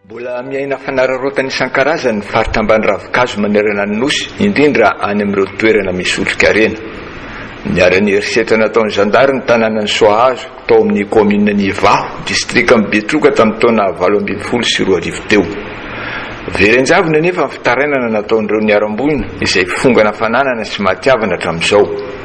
Mbola miaina fanararaotana isan-karazany ny faritra ambany ravin-kazo manerana ny Nosy, indrindra any amin'ireo toerana misy otrikarena. Niharan'ny herisetra nataon'ny zandary ny tanànan'i Soahazo, tao amin'ny kaominina Ivaho, distrikan'i Betroka tamin'ny taona valo ambin'ny folo sy roa arivo teo. Very an-javony anefa ny fitarainana nataon'ireo niharam-boina, izay fongana fananana sy mahatiavana hatramin'izao.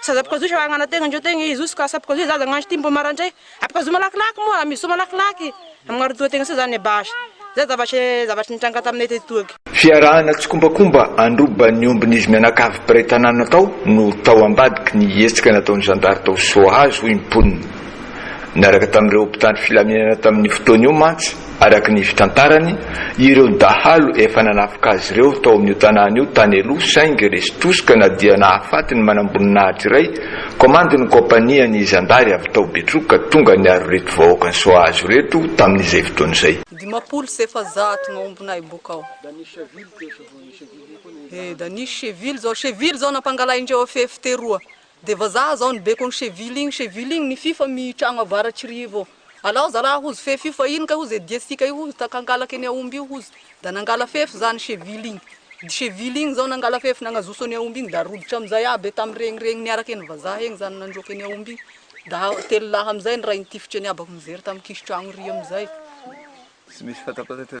Sazapoka zohy sahagna na tegna ndreo tegna i zohy ka sapoka zohy zaza gnanjo ty mbo marandray apoka zohy malakilaky moa amy zohy malakilaky amy gnarotsoa tegna sa zany base zay zavatry zavatry nitranga taminay teto toa ky. Fiarahana tsikombakomba handroba ny ombin'izy mianakavy mpiray tanàna tao no tao ambadiky ny hetsika nataon'ny zandary tao Soahazo, hoy ny mponina. Niaraka tamin'ireo mpitandro filaminana tamin'io fotoana io mantsy, araka ny fitantarany, ireo dahalo efa nanafika azy ireo tao amin'io tanàna io tany aloha saingy resy tosika na dia nahafaty ny manamboninahitra iray komandin'ny kaompanian'ny zandary avy tao Betroka tonga niaro ireto vahoaka nisohazo ireto tamin'izay fotoana izay. Dimampolo sy efajato maombonay boka ao. He, Daniche Cheville zao, Cheville zao nampangalaindreo afefy teroa Dia vazaha zao ny bekon cheville igny cheville igny ny fifa mi tragno avaratr'i rivo ao alao zalaha hozy fefy io fa ino kay hozy dia sika io hozy taka angalaka eny aomby io hozy da nangala fefy za ny cheville igny dy cheville igny zao nangala fefy nagnazoso eny aomby igny da rodotra amizay aby tam regny regny niaraka eny vazaha egny zany nandroaka eny aomby igny da telo lahy amizay ny rainy tifitra eny aby mijery tam kisotragno ry amizay. Tsy misy fatapatatra.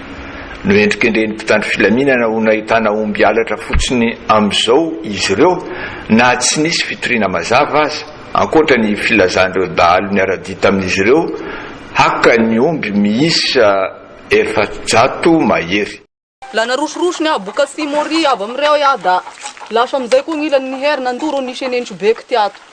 Nohendrikendrehin'ny mpitandro filaminana ho nahitana omby halatra fotsiny amin'izao izy ireo na tsy nisy fitoriana mazava aza, ankoatra ny filazan'ireo dahalo niara-dia tamin'izy ireo haka ny omby miisa efajato mahery. La narosorosony aho bok'atsimo ary avy amin'ireo aho da lasa amin'izay koa gn'ilany nihery nandoro ny senentsy be k'ty ato.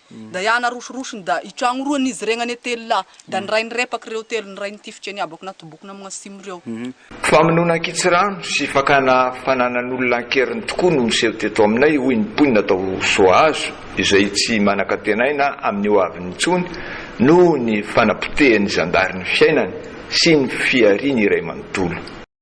Da iany arosoroson da itragno roa nizy regny ane telo lahy da ny rainy repak reo telo ny rainy tifitry ane abako natobokony amign asimo reo. Famonoana ankitsirano sy fakana fananan'olona an-keriny tokoa no miseho teto aminay, hoy ny mponina tao Soahazo, izay tsy manan-kantenaina amin'ny ho aviny intsony noho ny fanapotehan'ny zandary ny fiainany sy ny fihariany iray manontolo.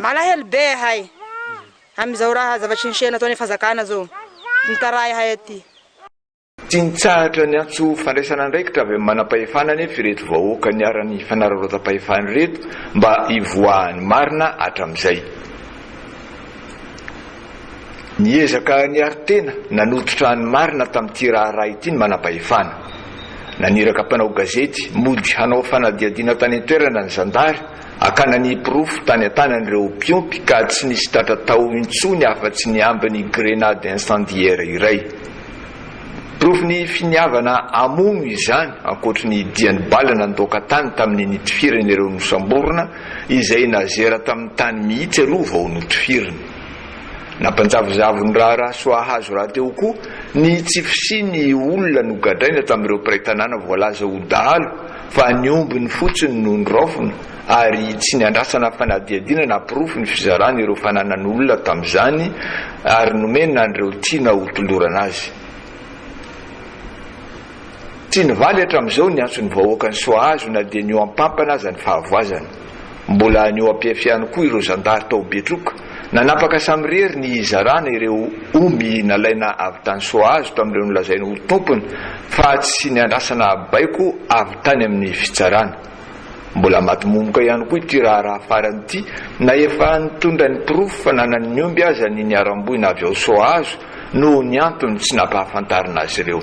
Malahelo be ahay amin'izao raha zavatry ny shena ataon'ny fanjakana zao mitaraha ahay aty. Tsy nitsahatra niantso fandraisana andraikitra avy amin'ny manam-pahefana anefa ireto vahoaka niharan'ny fanararaotam-pahefana ireto mba hivoahan'ny marina hatramin'izay. Niezaka niaro tena nanototra ny marina tamin'ity raharaha ity ny manam-pahefana. Naniraka mpanao gazety mody hanao fanadihadiana tany an-toerana ny zandary Hakana ny porofo tany an-tanan'ireo mpiompy ka tsy nisy tratra tao intsony afa-tsy ny ambin'ny grenade incendiaire iray. Porofon'ny finiavana hamono izany, ankoatry ny dian'ny bala nandoaka tany tamin'ny nitifirany ireo nosamborina, izay nazera tamin'ny tany mihitsy aloha vao notifiriny. Nampanjavozavo ny raharaha soa hahazo rahateo koa ny tsy fisian'ny olona nogadraina tamin'ireo mpiray tanàna voalaza ho dahalo fa ny ombiny fotsiny no noraofina ary tsy niandrasana fanadihadiana na porofo ny fizarana ireo fananan'olona tamin'izany ary nomena an'ireo tiana hotolorana azy. Tsy nivaly hatramin'izao ny antson'ny vahoakan'i Soahazo na dia nihoampampana aza ny fahavoazany. Mbola any Oapief ihany koa ireo zandary tao Betroka. Nanapaka samirery ny hizarana ireo omby nalaina avy tany Soahazo tamin'ireo nolazainy ho tompony fa tsy niandrasana baiko avy tany amin'ny fitsarana. Mbola madimomoka ihany koa ity raharaha farany ity na efa nitondra ny porofo fa nanan'ny omby aza ny niharam-boina avy ao Soahazo noho ny antony tsy nampahafantarina azy ireo.